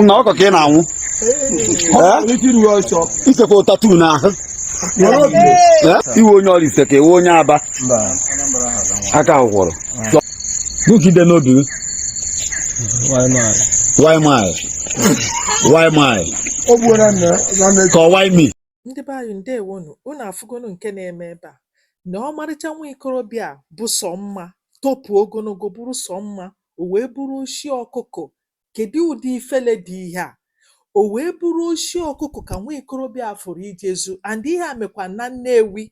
nna ọkụkọ ka ị na-anwụ i sekwa tatu n'ahụ ị wụ onye Ọraifite ka ị wụ onye aba aka kwọrọ bugide n'obi why my why my ka why me ndị be anyị ndewonu unu afụgonu nke na-eme ebe a na ọmarịcha nwa ikorobịa bụ sọ mma topu ogologo bụrụ sọ mma o wee bụrụ oshi ọkụkụ. Kedụ ụdị ifele dị ihe a? O wee bụrụ oshi ọkụkụ ka nwa ikorobịa a fụrụ ije zu and ihe a mekwa na Nnewi.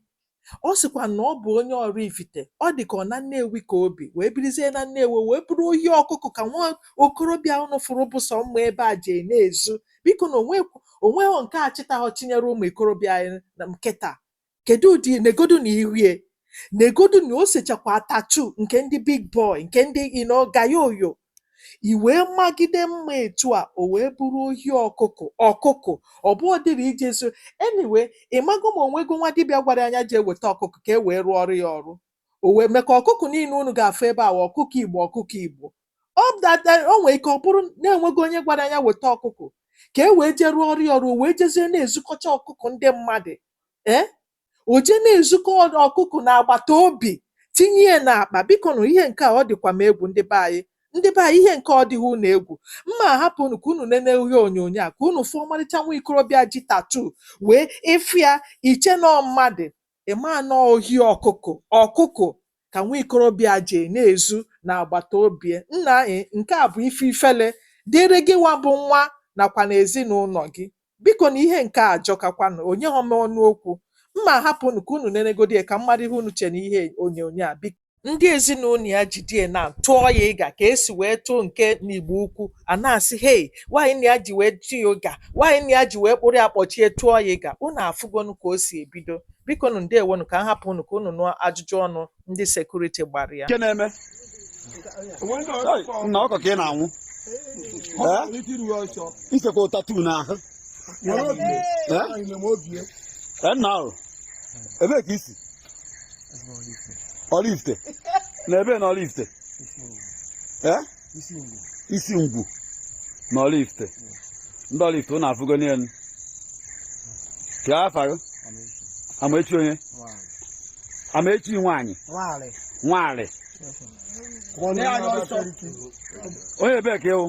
Ọ sịkwa na ọ bụ onye Ọraifite. Ọ dị ka ọ na Nnewi ka o bi, wee birizie na Nnewi, o wee bụrụ ohi ọkụkụ ka nwa okorobịa a unu fụrụ bụ sọ mma ebe a je na-ezu. Biko na o nweghị nke a chịtaghọ chịnyere ụmụ ikorobịa anyị kịta. Kedụ ụdị negodu na iru e negodu na o sechakwa tatu nke ndị big boy nke ndị ino gayo oyo i wee magide mma etu a o wee bụrụ ohi ọkụkụ ọkụkụ ọ bụ ọ dịrị ije zu anyway ị maghọ ma o nwego nwa dibịa gwara ya jee weta ọkụkụ ka e wee rụọ ọrụ ya ọrụ o wee mee ka ọkụkụ niile unu ga-afụ ebe a wụ ọkụkọ igbo ọkụkọ igbo ọ dada o nwee ike ọ bụrụ na e nweghị onye gwara ya weta ọkụkụ ka e wee jee rụọ ọrụ ya ọrụ o wee jezie na-ezukọcha ọkụkụ ndị mmadụ ee o jee na-ezukọrọ ọkụkụ na agbata obi tinye ya n'akpa biko na ihe nke a ọ dịkwa m egwu ndị be anyị ndị be anyị ihe nke ọ dịghị unu egwu m ma ahapụ unu ka unu nene ihe onyonyo a ka unu fụ ọmarịcha nwa ikorobịa ji tatu wee ị fụ ya i chee na ọ mmadụ Ị ma na ọ ohi ọkụkụ ọkụkụ ka nwa ikorobịa a jee na-ezu n'agbata obi e? Nna e, nke a bụ ife ifele dịịrị gịwa bụ nwa nakwanụ ezinaụlọ gị. Biko nụ, ihe nke a ajọkakwanụ. O nyeghọ m ọnụ okwu. M ma ahapụ unu ka unu nenegodị ya ka m mara ihe unu che n'ihe onyonyo a, biko. ndị ezinụlọ ya jidie na tụọ ya ịga ka e si wee tụọ nke n'igbo ukwu a na-asị hei nwanne ya ji wee tụ ya ịga nwanne ya ji wee kpụrụ ya kpọchie tụọ ya ịga unu afụgonu ka o si ebido biko nụ ndewonu ka m hapụ unu ka unu nụọ ajụjụ ọnụ ndị sekuriti gbara ya nke na-eme Hey, nna ọkụkọ ka ị na-anwụ Eh? i sekwa tatu n'ahụ Eh? Eh, nna ahụ ebee ka i si Ọraifite na ebee na Ọraifite eh? Isingwu na Ọraifite ndị Ọraifite unu afụgo onye unu kee afa gị amaechi onye amaechi nwaanyị nwaanyị onye ebee ka ị wụ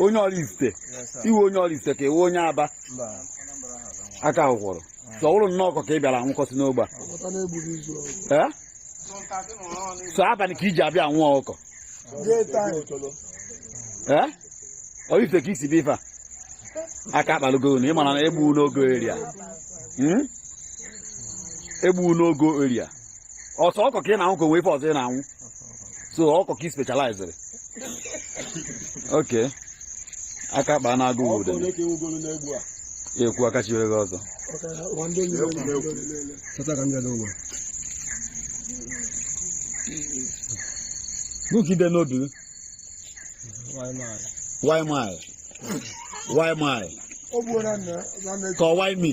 onye Ọraifite ị wụ onye Ọraifite ka ị wụ onye aba aka ahụ kwọrọ so ọ bụrụ nnọọ ọkụkọ ka ị bịara anwụkọsị n'ogbe a Ọkọta na-egburu izu ọgụ. Eh? so abalị ka i ji abịa anwụ ọkụkọ Day time. Eh? ọ ife ka isi bụ ife a aka akpalugo unu ị mara na egbu n'ogo eria egbu n'ogo eria ọ sọ ọkụkọ ka ị na-anwụ ka o nwe ife ọzọ ị na-anwụ sọ ọkụkọ ka ị specializere okay aka kpaa na-agụ obodo ekwu aka chiwere gị ọzọ gịnị ka i de n'obi gị why me why me ka why me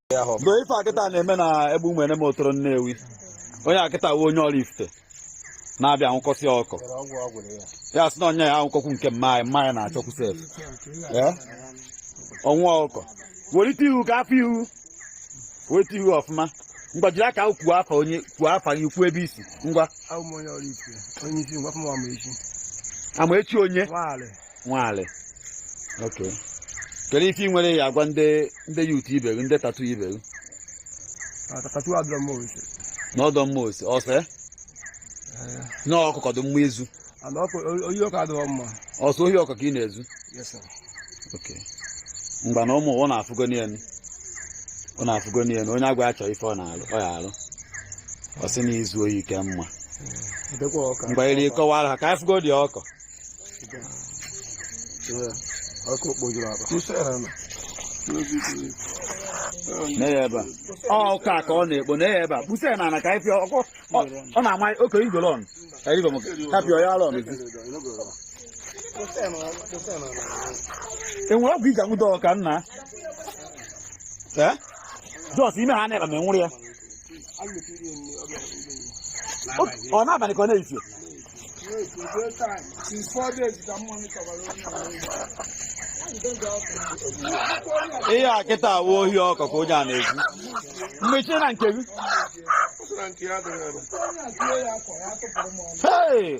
lee ife a kịta na-eme na Egbu Umuenem Otolo Nnewi onye a kịta wụ onye Oraifite na-abịa anwụkọsị ọkụkọ ọ sị na nya anwụkọkwu nke mama ya mama ya na-achọkwu sef ọnwụ ọkụkọ welite ihu ka a fụ ihu welite ihu ọfụma ngwa jiri aka gị kwuo afa onye kwuo afa gị kwuo ebe i si ngwa Amaechi onye Nwali okay kedu ife ị nwere ị ya-agwa ndị ndị youth ibe gị ndị tattoo ibe gị Tattoo adịrọ mma ọ sị na ọ dịrọ mma ọ sị ọ sọ ya na ọkụkọ dị mma izu Ana ọkụ ohi ọkụkọ adịrọ mma. ọ sọ ohi ọkụkọ ị na-ezu Yes sir. okay ngwa na ụmụ ụwa ọ na-afụgo n'elu ọ na-afụgo n'elu onye agwa ya chọọ ife ọ na-alụ ọ ya alụ ọ sị na izu ohi ka mma Edekwa ọka. mgbe iri kọwara ha ka anyị fụgodu ọkụkọ ọkụkọ kpojuru akpa ọkụkọ ka ọ na-ekpo na ebe a kposa ya n'ala ka anyị pịa ọkụ ọ na-ama oke igolo ọnụ ka anyị gọmụ ka pịa ya ala ọnụ e nwere ọgwụ i ji anwụdo ọkụkọ nna jos ime ha na-ekpa ma enwere ya ọ n'abalị ka ọ n'efifie ihe a kịta awụ ohi ọkụkọ ka onye a na-ezu mgbe iche na nke gị Hey!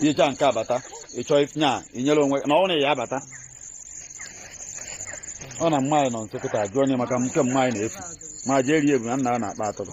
i jechaa nke a bata ịchọ nya inyere onwe na ọ na ya abata ọ na mma anyị nọ nso kịta jụọ onye maka nke mma anyị na-efu ma jee rie ebu na nna a na-akpa atụrụ